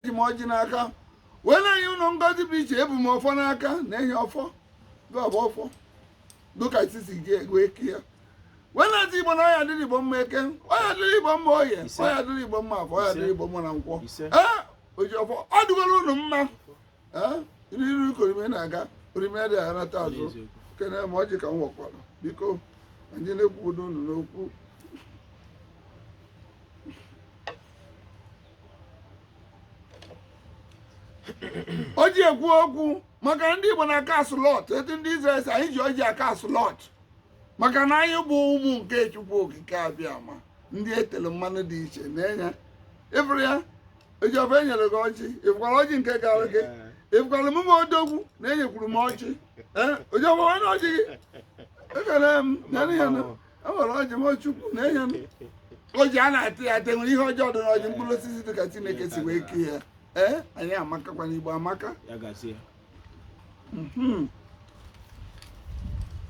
eji m ọjị n'aka wee na-enye unu ngọzi dị iche ebu m ọfọ n'aka na-enye ọfọ gọbụ ọfọ dịka isisi ji wee kie wee na-asị igbo na ọ ya-adịrị igbo mma eke ọ ya-adịrị igbo mma oye ọ ya-adịrị igbo mma afọ ọ ya-adịrị igbo mma na nkwọ ee oji ọfọ ọ dịgoro unu mma ee iru iru ka orimiri na-aga orimiri adị anata azụ kene m ọjị ka m wekwara biko anyị na-ekwubido unu n'okwu o ji ekwu okwu maka ndị Igbo na-a cast lot etu ndị Izrel si anyị ji ọjị a cast lot maka na anyị bụ ụmụ nke Chukwu Okike Abịama ndị e telu mmanụ dị iche na-enye ịfụrụ ya ojiọba enyere gị ọjị ịfụkwara ọjị nke gara gị ịfụkwara emume odogwu na enyekwuru m ọjị ee ojiọba onye ọjị gị ekele m nyanụ ya nụ o nwere ọjị m chukwu na-enye m ọjị a na-ata ata e nwere ihe ọjọọ dị n'ọjị mkpụrụ osisi dị ka chineke si wee kee ya ee anyị amakakwa n'igbo amaka ya gazie Mhm.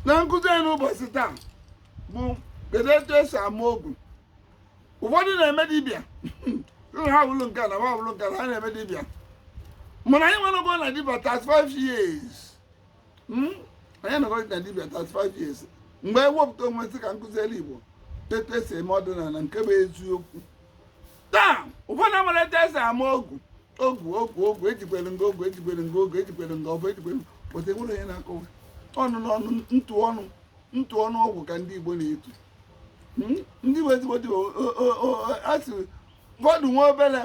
na nkụzi anyị n'ụbọchị taa bụ kedu etu esi ama ogu ụfọdụ na-eme dibịa ụlọ ha wụlụ nke a na ha wụlụ nke a na ha na-eme dibịa mana anyị anọgo na dibịa 35 years hmm? onye nọrọ na dibịa 35 years mgbe ewepụta onwe m sị ka m kụzielu igbo etu esi eme ọdịnala nke bụ eziokwu taa ụfọdụ amara etu esi ama ogu ogu ogu ogu ejikwere nga ogu ejikwere nga ogu ejikwere nga ọbụ ejikwere pụta enwere onye na-akọwa ọnụ n'ọnụ ntu ọnụ ntu ọnụ ọgwụ ka ndị igbo na-etu hmm? ndị igbo ezigbo dibịa sị ụfọdụ nwa obere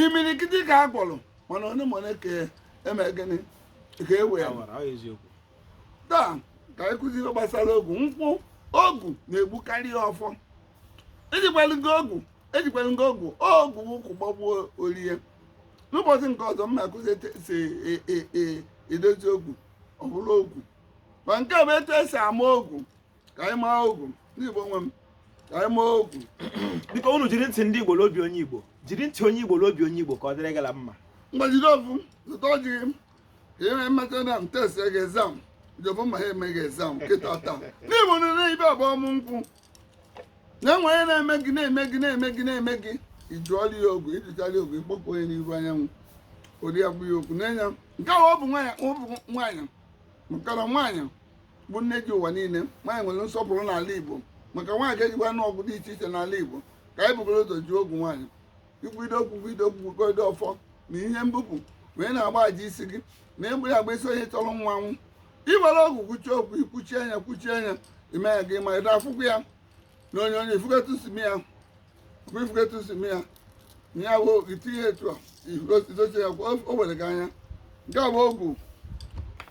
imirikiti ka a gwọrọ mana onye ma onye ka eme gịnị ka e wee awara ọ eziokwu taa ka anyị kụzi ihe gbasara ogu nkwụ ogu na-egbukarịa ọfọ ejikwala gị ogu ejikwala gị ogu ogu ụkwụ gbagbuo orie n'ụbọchị nke ọzọ m na-akụzi etu esi e- e- e- edozi ogu ọ bụrụ ọgwụ ma nke a bụ etu esi ama ogu ka anyị maa ogu ndị Igbo nwe m ka anyị maa ogu biko unu jiri ntị ndị Igbo n'obi onye Igbo jiri ntị onye Igbo n'obi onye Igbo ka ọ dịrị gala mma mgbajide ofu zụta ọjị gị ka ihe mmetụ na m test gị exam jọbụ ma ha emeghị exam kịta taa n'Igbo nile ibe abụ ọmụ nkwụ na enwe onye na-eme gị na-eme gị na-eme gị na-eme gị ị jụọla ya ogu ị jụchala ya ogu ịkpọpụ onye n'ihu anyanwụ ori ya bụ ya okwu n'anya nke a ọ bụ nwaanyị ọ bụ nwaanyị mụtara nwaanyị bụ nne ji ụwa niile nwaanyị nwere nsọpụrụ n'ala Igbo maka nwaanyị ga-ejikwanụ ogu dị iche iche n'ala Igbo ka anyị bugoro ụzọ ji ogu nwaanyị ikwudo okwu kwudo okwu kwudo ọfọ ma ihe mbụ bụ wee na-agba aja isi gị na egbere agba isi onye chọrọ mmanwụ i were ogu kwuchie okwu ikwuchie anya kwuchie anya ime ya gị ma ị ga-afụkwu ya na onyonyo ị fụgo etu esi eme ya ifugo etu esi mee ya na ya bụ itinye etu a idochie ya kwa o were gị anya nke a bụ ogu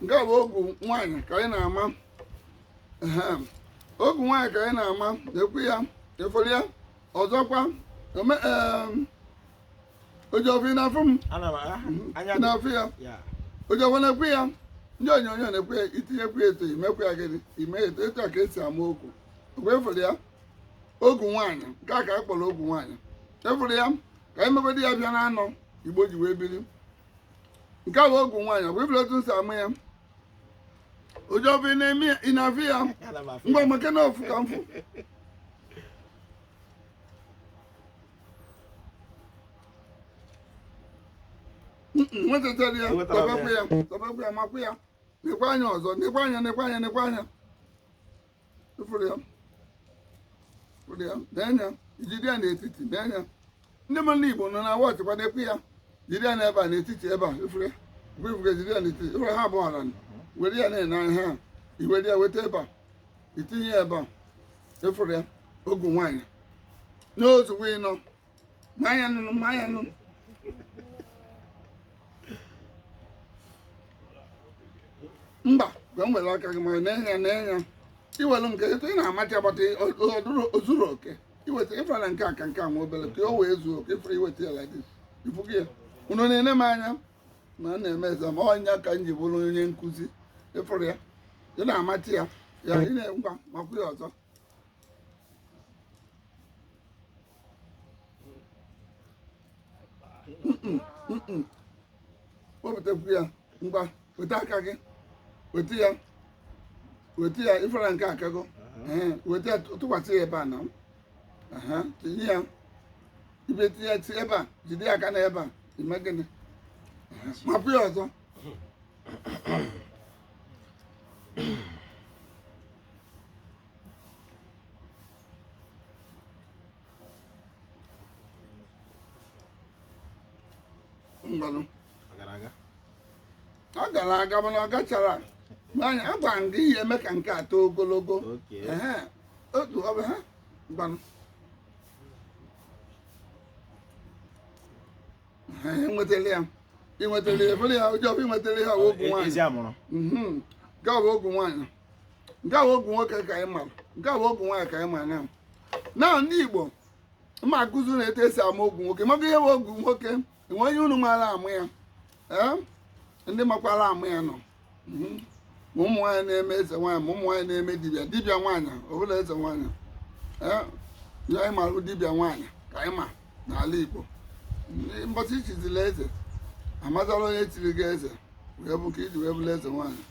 nke a bụ ogu nwaanyị ka anyị na-ama Ehe. ogu nwaanyị ka anyị na-ama nekwa ya ịfụrụ ya ọzọkwa ome em, ojiọfọ ị na-afụ m Ana m ahụ anya ị na-afụ ya ya. ojiọfọ nekwa ya ndị onyonyo nekwa ya itinyekwu ya etu imekwu ya gịnị ime etu etu a ka esi ama ogu ogu ịfụrụ ya ogu nwaanyị nke a ka a kpọrọ ogu nwaanyị ịfụrụ ya ka anyị mebedi ya bịa na ana igbo ji wee biri nke a bụ ogu nwaanyị ọ bụ ịfụrụ otu m si ama ya ojiọfọ ị na-ene ya- ị na-afụ ya Ana m afụ ngwa ya. mekene ofu ka mfụ nwetachara ya Enwetara m ya. tọbekwa ya tọbekwa ya makwa ya nekwa anya ọzọ nekwa anya nekwa anya nekwa anya nee anya ijide ya n'etiti nee anya ndị mmadụ n'igbo nọ na-watch kwa nekwa ya jide ya n'ebe a n'etiti ebe a ịfụrụ ịfụrụ jide ya n'etiti ịfụrụ ha abụọ hara were ya na-ene anya ha iwere ya weta ebe a itinye ya ebe a ịfụrụ ya ogu nwaanyị n'ozugbo ịnọ maa ya nụnụ maa ya nụnụ mba ka m were aka gị ma nee anya nee anya iwere nke etu ị na-amachi agbata ozuru oke iweta ịfụra na nke a ka nke a nwa obere ka o wee zuo oke ịfụra iweta ya like this ifugo ya unu na-ene m anya na m na-emezi ya ọ ya ka m ji bụrụ onye nkụzi ịfụrụ ya ị na-amachi ya ya ị na- ngwa makwa ya ọzọ wepụtakwu ya ngwa weta aka gị weta ya weta ya ịfụrụ nke a kago weta ya tụkwasị ya ebe a na tinye ya ibe tinye ya ebe a jide ya aka na ebe a ime gịnị mapụ ya ọzọ ngwanụ Ọ gara aga. ọ gara aga mana ọ gachara nee anya a gwara m gị ihe eme ka nke a too ogologo Okay. Ehe, otu ọ bụ ha ngwanụ Ha enwetala ya inwetala ya ịfụrụ ya ojiọfọ inwetala ya ọ wụ ogu E- nwaanyị Ezi amụrụ. Mhm. Nke a bụ ogu nwaanyị nke a bụ ogu nwoke ka anyị mara nke a bụ ogu nwaanyị ka anyị mara na na ndị igbo m akụziri unu etu esi ama ogu nwoke maka ihe bụ ogu nwoke o nwee onye unu maara ama ya ee ndị makwara ama ya nọ mhm. ma ụmụ nwaanyị na-eme eze nwaanyị ma ụmụ nwaanyị na-eme dibịa dibịa nwaanyị ọbụla eze nwaanyị ee ihe anyị marụ dibịa nwaanyị ka anyị ma n'ala igbo mbọchị ichizila eze amazala onye chiri gị eze wee bụ ka iji wee bụrụ eze nwaanyị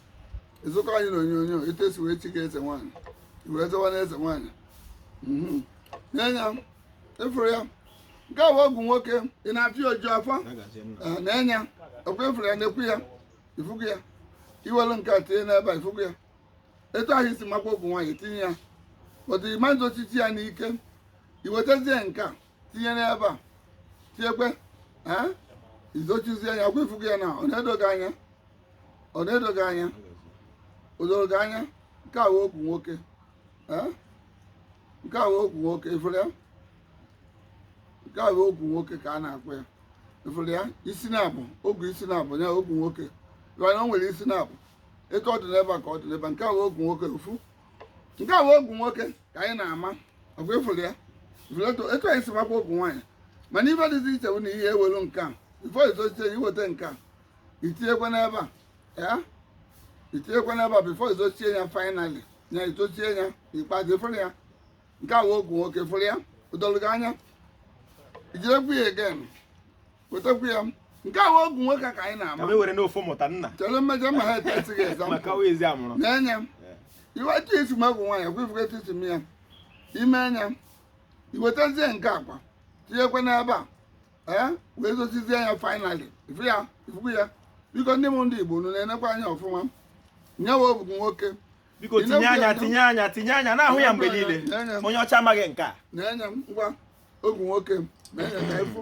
ịzụkọ anyị na onyonyo etu esi wee chie gị eze nwaanyị i wee zawa eze nwaanyị mhm. nee ya ị fụrụ ya nke a bụ ogu nwoke ị na-afịa oju afọ ah, nee anya ọkwa ị fụrụ ya na-ekwu ya ị fugo ya i welu nke a tinye n'ebe a ị fugo ya etu ahụ i si makwa ogu nwaanyị tinye ya but ị ma zochichi ya n'ike i wetazie nke a tinye n'ebe a tinyekwe ah, i zochizie ya ọkwa ị fugo ya na ọ na-edo gị anya ọ na-edo gị anya o doro gị anya nke a bụ ogu nwoke ee nke a bụ ogu nwoke ị fụrụ ya nke a bụ ogu nwoke ka a na-akpọ ya ị fụrụ ya isi naabọ ogu isi naabọ ya ogu nwoke mana o nwere isi naabọ etu ọ dị n'ebe a ka ọ dị n'ebe a nke a bụ ogu nwoke ofu nke a bụ ogu nwoke ka anyị na-ama ọkwa ị fụrụ ya ị fụrụ etu etu anyị si makwa ogu nwaanyị mana ife dịzi iche bụ na i welu nke a before i zochie ya i weta nke a i tinyekwa n'ebe a ya i tinyekwa n'ebe a before i zochie ya finally ya i zochie ya ikpeazụ ị fụrụ ya nke a bụ ogu nwoke fụrụ ya o dolu gị anya ijirekwu ya again wetakwu ya nke a bụ ogu nwoke ka anyị ka na-ama m ewere n'ofu mụta nna chere mmejọ ma ha ete esi gị eza maka wa ezi amụrụ na-enye m iwe etu esi ama ogu nwaanyị ekwe ị fugo etu esi ama ya ime anya i wetazie nke a kwa tinyekwa n'ebe a ee wee zochizie ya finally ị fụ ya ị fugo ya biko ndị m ndị igbo unu na-enekwa anya ọfụma nya bụ ogu nwoke biko Ị tinye na-ekwu anya ya, tinye anya tinye anya na-ahụ ya mgbe niile Tinye anya. onye ọcha amaghị nke a na-enye m ngwa ogu nwoke m na-enye ka efu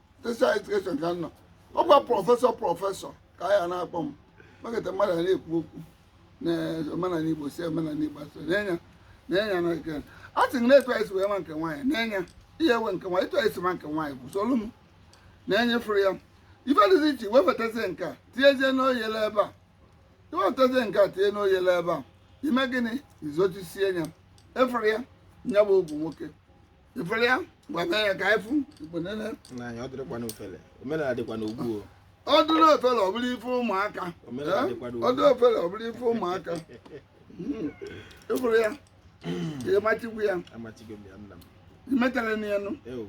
special education ka nọ ọ gwa prọfesọ prọfesọ ka a ya na-akpọ m maketa mmadụ na-ekwu okwu na omenala igbo si omenala igbo asị nee anya nee anya na nke a sị na etu anyị si wee ma nke nwaanyị nee anya ihe ewe nke nwaanyị etu anyị si ma nke nwaanyị bụ solu m nee ya ị fụrụ ya ife dịzi iche i wefetazie nke a tinyezie n'oyele ebe a i wefetazie nke a tinye n'oyele ebe a i mee gịnị i zochisie ya ị fụrụ ya nya bụ ogu nwoke ifuru ya ngwa mee ya ka afụ ikwenene n'anya ọ dịrịkwa n'ofele omenala dịkwa n'ogbu o ọ dụrụ ofele ọ bụrụ ife ụmụaka Omenala Eh? dịkwa n'ugwu. ọ dụrụ ofele ọ bụrụ ife ụmụaka Mm. ifuru ya ihe machikwu ya amachigo m ya nna m imetara na ya nụ eo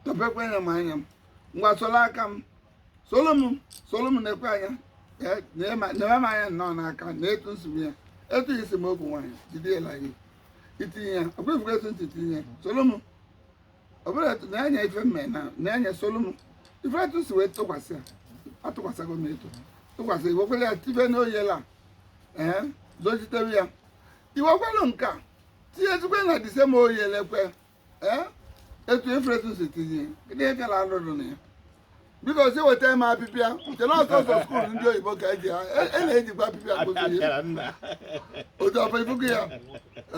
tọpekwa ya maa ya ngwa soro aka m soro m soro m na-ekwe anya Eh, nyere m- nyere m anya nnọọ n'aka na etu nsogbu ya etu isi m okwu nwaanyị jide ya la gị itinye ya ọkwa ifugo etu nsi tinye ya soro m ọbụla etu na-anya ife mme na na-anya soro m ifuru etu nsi wee tụkwasị ya atụkwasịgo m etu tụkwasị iwekwere ya tibe n'oyele a ee zojitewe ya iwekwere nke a tinyezikwe na the same oyele kwa ee etu ifuru etu nsi tinye gịnị ka na anụ dị na ya biko si weta m apịpịa chere ọsọ ọsọ skuul ndị oyibo ka eji ha e- e na-ejikwa apịpịa akpụzi ihe Apịara nna. otu ọbụ ifugo ya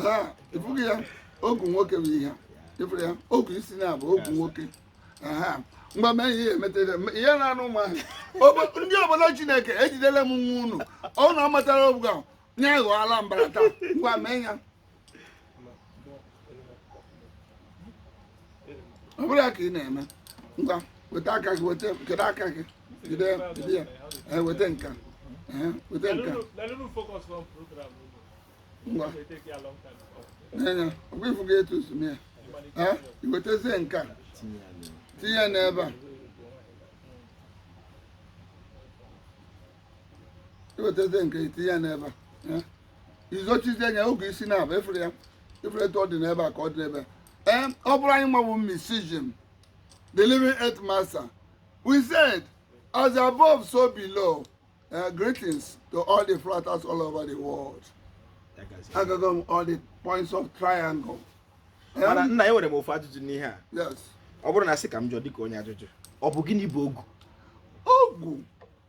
ha ifugo ya ogu nwoke bụ ihe ifuru ya ogu isi naabọ ogu nwoke aha mgbe mee ihe emetara ihe na-anụ ụmụ ahụ Obo- ndị obodo chineke ejidela m nwa unu ọnụ ọ matara obuga ya ghọọla mbara taa ngwa mee ya ọ bụrụ ya ka ị na-eme ngwa weta aka gị weta kedu aka gị jide jide ya ee weta nka ee weta nka ngwa nee anya ọkwa ifugo etu nsi mee ya ee iwetezie nka tinye ya n'ebe a iwetazie nke itinye ya n'ebe a izochizie nya ogu isi naabọ ifuru ya ifuru etu ọ dị n'ebe a ka ọ dị n'ebe a ee ọ bụrụ anyị nwa bụ mysticism the living earth master we said as above so below uh, greetings to all the fraters all over the world agago m all the points of triangle mana nna enwere m ofu ajụjụ n'ihe a yes ọ bụrụ na sị ka m jụọ dịka onye ajụjụ ọ bụ gịnị bụ ogu ogu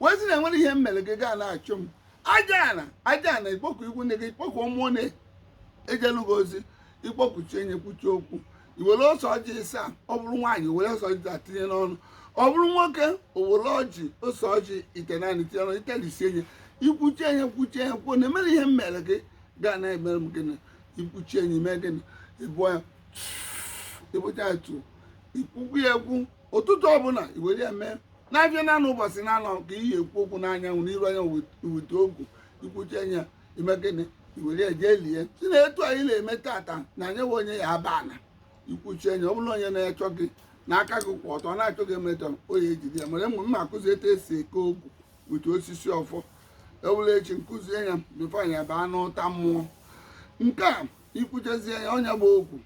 wee sị na enwere ihe m mere gị ga na-achọ m aja ana aja ana ikpọkuo ikwu nne gị ikpọkuo mmụọ na-ejelu gị ozi ikpọkuchaa ya ikwuchaa okwu iwere ose ọjị ịsa ọ bụrụ nwaanyị were ose ọjị taa tinye n'ọnụ ọ bụrụ nwoke owere ọjị ose ọjị itenaanị tinye n'ọnụ ịtalisịa ya ikwuchaa ya kwuchaa ya kwuo na enwere ihe m mere gị gaa na emere m gịnị ikwuchaa ya imee gịnị ịbụọ ya ịbụcha ya tu ikwukwu ya okwu ụtụtụ ọbụla iwere eme na afịa naanọ ụbọchị naanọ ka iyi ekwu okwu n'anyanwụ n'iru anya weta ogu ikwuchaa ya ime gịnị iwere eje lie si na etu anyị na-eme tata na anyewa onye ya aba ana ikwuchaa ya ọ bụrụ onye na-achọ gị na aka gị kwụ ọtọ na-achọ gị emetọ onye ejide ya mere mgbe m na-akụzi etu esi eke ogu weta osisi ọfọ ọ bụrụ echi nkụzie ya before anyị abaa n'ụta mmụọ nke a ikwuchezie ya onye gba ogu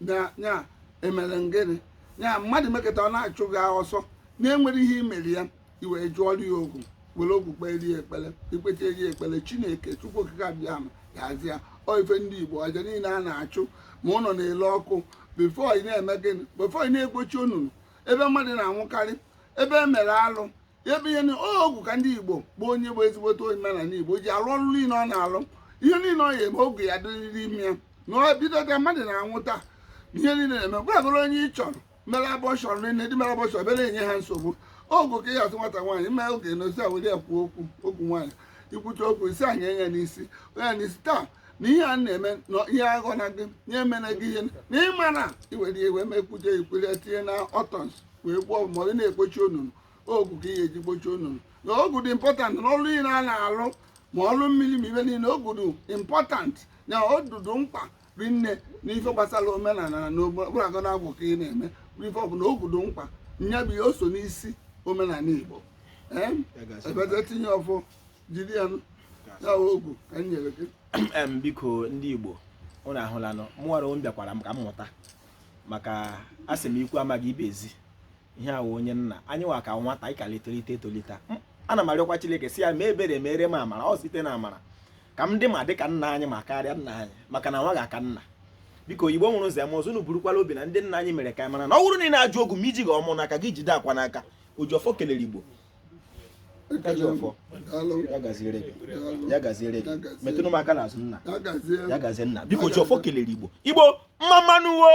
na ya emere ngịnị ya mmadụ mekata ọ na-achụ gị ọsọ na-enwere ihe imere ya iwee jụọrọ ya ogu were ogu kpere ya ekpere ikpete ya ekpere chineke chukwu okike abịama ya aza ọ ife ndị igbo aja niile a na-achụ ma ụlọ na-ele ọkụ bifo ị na-eme gịnị bifo ị na-egbochi onunu ebe mmadụ na-anwụkarị ebe e mere alụ ebe ihe ogu ka ndị igbo bụ onye bụ ezigbote omenala igbo ji alụ ọrụ niile ọ na-alụ ihe niile ọ ya eme ogu ya-adịrịrị ime ya na ọ bido ka mmadụ na-anwụ taa ihe niile na-eme gwagoro onye ị chọrọ mere abọshọn niile ndị mere abọshọn bịara enye ha nsogbu ogu ka ị ga-atụ nwata nwaanyị mee oge na ozi awere ya kwuo okwu okwu nwaanyị ikwucha okwu isi anyị enye n'isi onye n'isi taa na ihe a na-eme na ihe aghọ na gị nye emena gị ihe na ịmara iwere iwe mekwuje ikwere tinye na ọtọns wee gwọọ ma ọ na-ekpochi onunu ogu ka ị ga-eji gbochie onunu na ogu dị important na ọrụ niile a na-arụ ma ọrụ mmiri ma ife niile ogu dị important na ogu dị mkpa ri nne na ife gbasara omenala na ogwurago na agwụ ka ị na-eme bụrụ ife ọbụla ogu dị mkpa nya bụ ihe o so n'isi omenala igbo ee ebete tinye ọfọ jiri ya nụ. ya bụ ogu ka m nyere gị em biko ndị igbo unu ahụlanụ mụnwara m bịakwara m ka m mụta maka asị m ikwu amaghị ibe ezi ihe ahụ onye nna anyị nwa ka nwata ị ka na-etolite etolite ana m arịọkwa Chineke sị ya mee ebere mere m amara ọ site na amara ka m dị ma dị ka nna anyị ma karịa nna anyị maka na nwa ga-aka nna biko igbo mụrụ nze mụọ ọzọ unu burukwala obi na ndị nna anyị mere ka anyị mara na ọ bụrụ na ị na-ajụ ogu ma ijighị ọmụ n'aka gị jide akwa n'aka Ojiọfọ kelere igbo Ojiọfọ ya gaziere gị ya gaziere gị metụnụ m aka n'azụ nna ya gazie nna biko Ojiọfọ kelere igbo igbo mma mmanụ o